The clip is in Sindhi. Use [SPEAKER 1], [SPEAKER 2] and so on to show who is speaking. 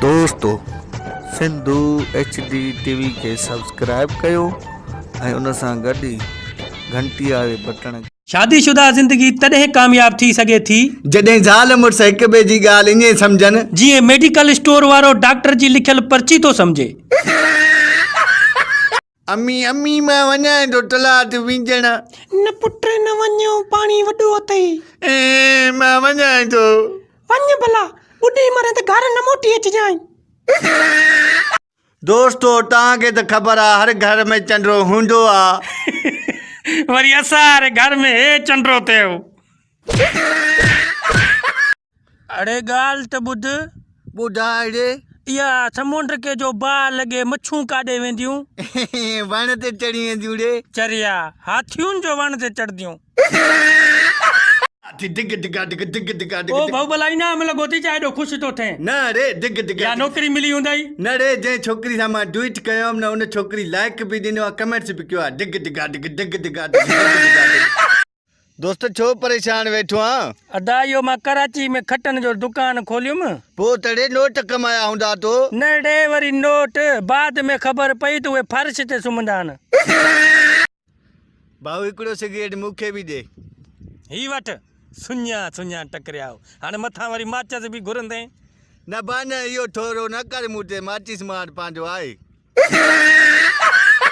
[SPEAKER 1] دوستو Sindhu H D T V کي سبسڪرائب ڪيو ۽ ان سان گڏ ئي گھنٽي واري بٽڻ شادي شده زندگي
[SPEAKER 2] تڏهن ڪامياب ٿي سگهي ٿي. جڏهن زال مڙس
[SPEAKER 3] هڪ ٻئي جي ڳالهه ائين سمجهن. جيئن ميڊيڪل
[SPEAKER 2] اسٽور وارو ڊاڪٽر جي لکيل پرچي ٿو سمجهي.
[SPEAKER 3] امي امي مان وڃائين ٿو تلاء تي وينجڻ. نه پٽ
[SPEAKER 2] نه وڃ پاڻي وڏو اٿئي. اي مان وڃائين
[SPEAKER 3] ٿو. وڃ ڀلا
[SPEAKER 2] ٻڏي مرين ته گهر نه موٽي اچجانء.
[SPEAKER 3] دوستو توهان کي ته خبر آ هر گهر ۾ چنڊرو هوندو آ. وري اسان
[SPEAKER 2] واري گهر ۾ هي چنڊرو ٿيو. اڙي ڳالهه ته ٻڌ. ٻڌاء اڙي.
[SPEAKER 3] اها
[SPEAKER 2] سمنڊ کي جو باهه لڳي مڇون ڪاڏي وينديون؟ وڻ
[SPEAKER 3] تي چڙهي وينديون اڙي. چريا، هاٿيون
[SPEAKER 2] جو وڻ تي چڙهنديون. هاٿي،
[SPEAKER 3] ڊگ ڊگا ڊگ ڊگ ڊگا ڊگ. او ڀؤ ڀلا انعام لڳو
[SPEAKER 2] ٿي ڇا ايڏو خوش ٿو ٿين. نه اڙي، ڊگ ڊگا
[SPEAKER 3] ڊگ. يا نوڪري ملي هوندئي.
[SPEAKER 2] نه اڙي، جنهن ڇوڪري
[SPEAKER 3] سان مان ڊوئيٽ ڪيو هئم نه ان ڇوڪري لائڪ به ڏنو آ ڪمينٽس به ڪيو آ ڊگ ڊگا ڊگ ڊگ ڊگا ڊگ ڊگ ڊگا ڊگ. دوست ڇو پريشان ويٺو آن؟ ادا اهو مان
[SPEAKER 2] ڪراچي ۾ کٽن جو دڪان کوليم. پوء ته اڙي نوٽ
[SPEAKER 3] ڪمايا هوندا تو؟ نه اڙي وري
[SPEAKER 2] نوٽ، بعد ۾ خبر پئي ته اهي فرش تي سمهندا آهن.
[SPEAKER 3] ڀائو هڪڙو سگريٽ مون کي به ڏي. هي وٺ،
[SPEAKER 2] سڃا سڃا ٽڪريائو، هاڻي مٿان وري ماچس به گهرندين. نه ڀاء
[SPEAKER 3] نه، اهو ٺورو نه ڪر مون تي، ماچس مان وٽ پنهنجو آهي.